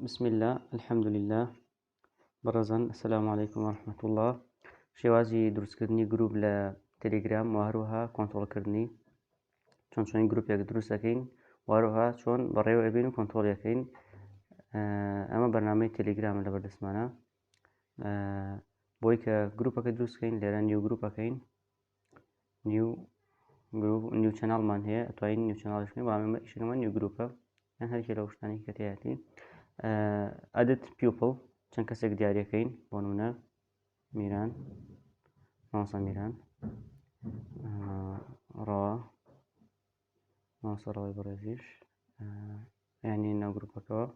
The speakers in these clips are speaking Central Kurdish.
بسم اللە الحمد للە بەڕزان سلام عیکم وەرحمەت اللە شێوازی دروستکردنی گروپ لە تەلیگرام و هەروەها کۆنتترۆلکردنی چۆن چۆن گروپێک دروست دەکەین واروها چۆن بەڕێوە ئەبین و کۆنتترۆلەکەین ئەمە بەنامەی تەلیگرام لە بەردەستمانە بۆی کە گروپەکە دروستکەین لێرە نیو گروپەکەین نیو گروپ نیو چەناڵمان هەیە ئەتوانین نیو چەناڵش بکەین بەڵام ئێمە ئیشەکەمان نیو گروپە یان هەرکێ لەو شتانی کە تێیاتی ئەدت پیوپڵ چەند کەسێک دیارەکەین بۆ نمونە میران مامۆستا میران ڕەوا مامۆستا ڕەوای بەڕێزیش یانی ناو گروپەکەەوە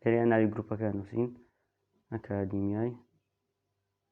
لەرێ ناوی گروپەکە نووسین ئەکادیمیای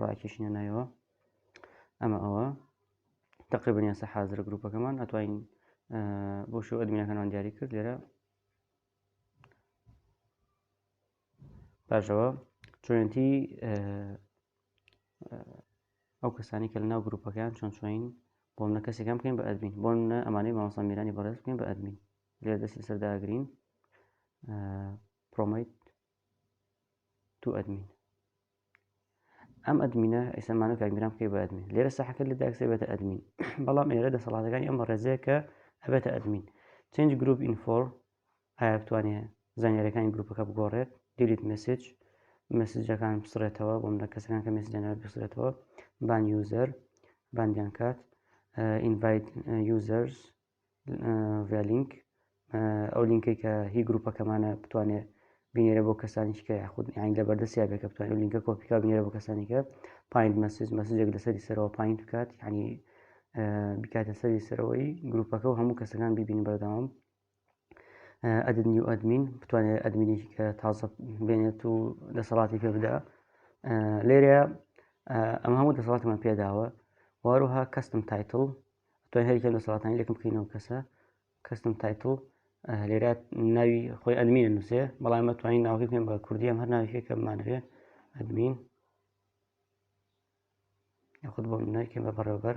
ڕاکێشینە نایەوە ئەمە ئەوە تقریبن یاسا حازرە گروپەکەمان ئەتوانین بۆ شو ئەدمینەکانمان دیاری کرد لێرە باشەوە چۆنتی ئەو کەسانی کە لە ناو گروپەکەیان چۆن چۆین بۆ منە کەسێکم بکەین بە ئەدمین بۆ منە ئەمانەی مامەسان میرانی بەڕێز بکەین بە ئەدمین لێ دەستی سەرداگرین پرۆمیت تو ئەدمین ئەم ئەدمینە ئەسەمانە کاگرام بکەی بە ئەدمین لێرە ساحەکە لە داکسێ بێتە ئەدمین بەڵام ئێرە دەسەڵاتەکانی ئەم بەڕێزەیە کە ئەبێتە ئەدمین چنج گروپ ئینفۆر ئایا بتوانێ زانیارەکانی گروپەکە بگۆڕێت دیلیت مسج مسجەکان بسرێتەوە بۆم لە کەسەکان کە مسجانەر بسرێتەوە بان یوزەر باندیان کات ئینڤایت یوزەرز ڤلینک ئەو لینکەی کە هی گروپەکەمانە بتوانێ بینێرە بۆ کەسانیش کە یاخود یان لە بەردەستیا بێکە بتوان و لینکە کۆپیکا بینێرە بۆ کەسانیکە پایند مەسج مەسجێک لەسەری سەرەوە پایین بکات ینی بکاتە سەری سەرەوەی گروپەکە و هەموو کەسەکان ببین بەردەوام ئەدن نیو ئەدمین بتوانێت ئەدمینی کە تازە بێنێت و دەسەڵاتی پێ بدا لێرە ئەم هەموو دەسەڵاتمان پێداوە واروها کەستم تایتل دوای هەر یەکێک لە سەڵاتانی لەکم بکەینەوە کەسە کەستم تایتڵ لێرە ناوی خۆی ئەدمینە نووسێ بەڵام مە توانین ناوەکە بکەین بە کوردی ئەم هەر ناویێک کە بمانەوێ ئەدمین خود بۆ منەکەم بە بەڕێوبەر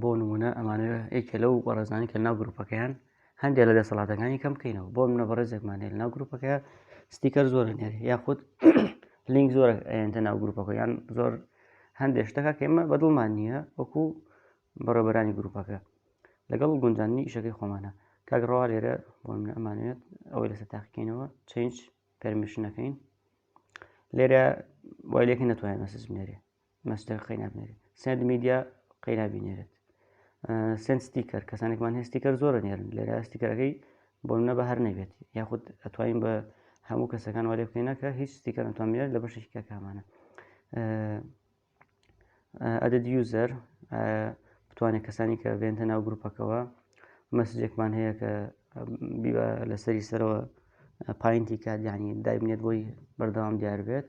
بۆ نمونە ئەمانە یەکێ لەو بەڕێزانی کە ناو گروپەکەیان هەندێک لە دەسەڵاتەکانی کەم بکەینەوە بۆ منە بەڕێزێکمان هەیە ناو گروپەکە ستیکەر زۆر نێری یاخود لینک زۆر ئەێنتە ناو گروپەکە یان زۆر هەندێک شتەکە کێمە بەدڵمان نییە وەکو بەڕێبەرانی گروپەکە لەگەڵ گونجاننی ئیشەکەی خۆمانە کاگڕوا لێرە بۆ من ئەمانوێت ئەوەی لەسەر تاقیکەینەوە چنج پەرمیشنەکەین لێرە وای لەکە نەتوانێت مەسج بنێرێ مەستەر قەینا بنێرێت سند میدیا قەینا بینێرێت سند ستیکەر کەسانێکمان هێستیکەر زۆرە نێرن لێرە ستیکەرەکەی بۆنە بە هەر نەبێت یاخود ئەتوانین بە هەموو کەسەکان وەێ بکەینەکە هیچ ستیکەر ئەتوانێت لە بەشێکی کاکامانە ئەدەد یوزەر بتوانێت کەسانی کە بێنتە ناو گروپەکەەوە مەسجێکمان هەیە کە بیوە لەسەری سەرەوە پاینتی کات ینی دایبنێت بۆی بەردەوام دیار بێت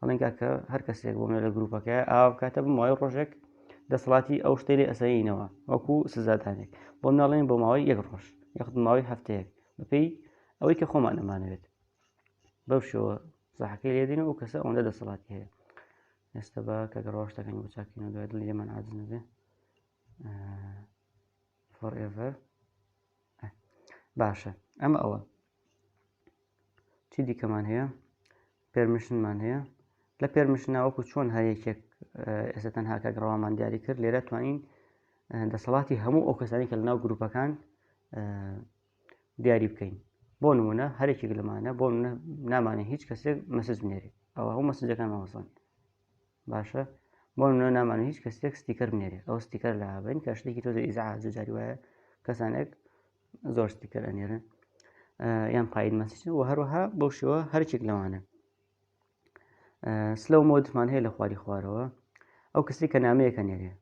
ئەڵێن کاکە هەر کەسێک بۆ منە لە گروپەکە ئاو کاتە بمەوەی ڕۆژێک دەسەڵاتی ئەو شتێ لێ ئەسەینەوە وەکو سزادانێک بۆ مناڵێن بۆ ماوەی یەک ڕۆژ یەخت ماوەی هەفتەیەک بەپێی ئەوەی کە خۆمان ئەمانەوێت بەو شێوە زەحەکەی لێدین و کەسە ئەوەندە دەسەڵاتی هەیە ئێستا بە کە گەڕۆشتەکەنی بۆ چاکینەوە دوای دڵ لێمان عادزنەبێ فۆرئڤەر باشە ئەمە ئەوە چی دیکەمان هەیە پێرمیشنمان هەیە لە پێرمیشنا وەکو چۆن هەر یەکێک ئێستا تەنها کە گڕەوامان دیاری کرد لێرە توانین دەسەڵاتی هەموو ئەو کەسانی کە لەناو گروپەکان دیاری بکەین بۆ نمونە هەرێکێک لەمانە بۆ نامانە هیچ کەسێک مەسج بنێری ئەوە هەموو مەسجەکان مەوەسن باشە بۆ نمونە نامانە هیچ کەسێک ستیکەر بنێرێ ئەو ستیکەر لا بین کە شتێکی تۆزە ئیزعاج و جاری وایە کەسانێک زۆر ستیکەر ئەنێرن یان پایین مەسیچن و هەروەها بەو شێوە هەرچێک لەوانە سلەو مۆدمان هەیە لە خواری خوارەوە ئەو کەسی کە نامەیەکە نێرێ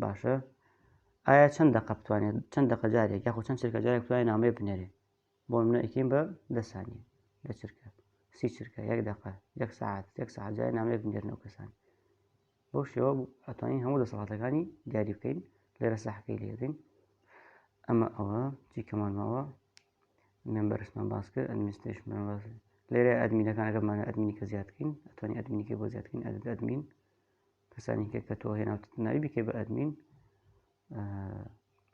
باشە ئایا چەند دەقە بتوانێت چەند دەقەجارێک یاخۆ چەند چێکەجارێک توانێت نامەیە بنێرێ بۆ نمونە ئەیکەین بە دە سانیە دە چرکە سی چرکە یەک دەقە یەک سعات یەک سعات جای نامەیەک بنێرنەوە کەسان بۆ شێوە ئەتوانین هەموو دەسەڵاتەکانی دیاری بکەین لێرە ساحەکەی لێدەین ئەمە ئەوە چی کەمان ماوە مێمبەرسمان باس کرد ئەدمیستشمان باس لێرە ئەدمینەکانەکەمانە ئەدمینی کە زیادکەین ئەتوانین ئەدمینیکە بۆ زیادکەین ئەدت ئەدمین کەسانی کە کە تۆ هێناوتت ناوی بکەی بە ئەدمین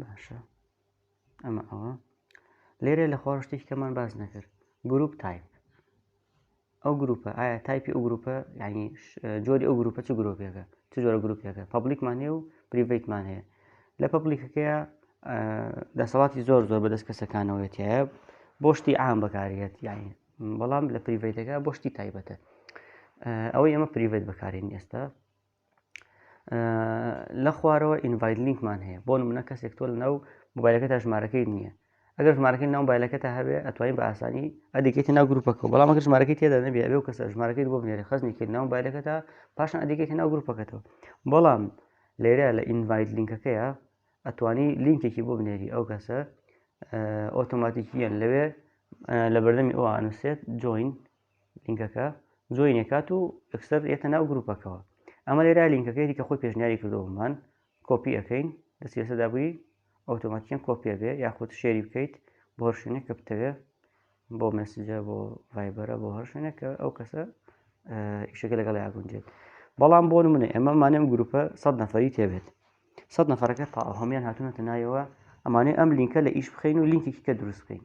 باشە ئەمە ئەوە لێرە لە خۆڕ شتێکی کەمان باز نەکرد گروپ تایپ ئەو گروپە ئایا تایپی ئەو گروپە ینی جۆری ئەو گروپە چ گرۆپێکە چ جۆرە گروپێکە پبلیکمان هەیە و پریڤیتمان هەیە لە پبلیکەکەیە دەسەڵاتی زۆر زۆر بەدەست کەسەکانەوەێتیە بۆ شتی ئام بەکارێت یاین بەڵام لە پریڤێتەکە بۆ شتی تایبەتە ئەوەی ئەمە پریڤێت بەکارین ئێستا لە خوارەوە ئینڤایت لینکمان هەیە بۆ منە کەسێک تۆ لەناو موبایلەکە تا ژمارەکەی نییە ئەگەر ژمارەکەی ناو بایلەکە تا هەبێ ئەتوانین بە ئاسانی ئەدیکێتی ناو گروپەکە بەڵام ئەگەر ژمارەکەی تێدا نەبێ ئەبێ و کەسە ژمارەکەی بۆ بنێری خزنی کرد ناو بایلەکە تا پاشان ئەدیکێتی ناو گروپەکەتەوە بەڵام لێرە لە ئینڤایت لینکەکەیە ئەتوانی لینکێکی بۆ بنێری ئەو کەسە ئۆتۆماتیکیان لەوێ لە بەردەمی ئەو ئانوسێت جوین لینکەکە جۆینێ کات و ئەکسەر ئێتە ناو گروپەکەەوە ئەمە لێرا لینکەکەی دیکە خۆی پێشنیاری کردەوەمان کۆپی ئەەکەین دەستی سەدابووی ئۆتۆماتیان کۆپیە بێ یاخود شێری بکەیت بۆ هەرشوێنێک کە بتەوێ بۆ مەسجە بۆ ڤایبەرە بۆ هەرشوێنێک کە ئەو کەسە ئیشەکە لەگەڵ یاگونجێت بەڵام بۆ منە ئێمە مانێم گروپە سەد نەفری تێبێت سەد نەفرەکە تا هەمیان هاتوونەتە نایەوە ئەمانەی ئەم لینکە لە ئیش بخین و لینکێکی کە دروست بکەین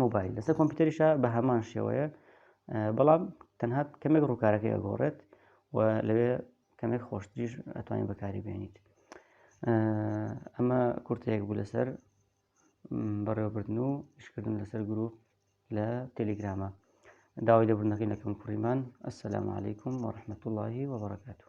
مۆبایل لەسەر کۆمپیوتەریشە بە هەمان شێوەیە بەڵام تەنها کەمێک ڕووکارەکەی ئەگۆڕێت و لەوێ کەمێک خۆشتریش ئەتوانین بەکاری بێنیت ئەمە کورتەیەک بوو لەسەر بەڕێوەبردن و شکردن لەسەر گروپ لە تەلیگرامە داوای لەبوونەکەی لەکەم کوڕیمان ئەسلام عیکم وەرحمەت اللهی وبرکاتو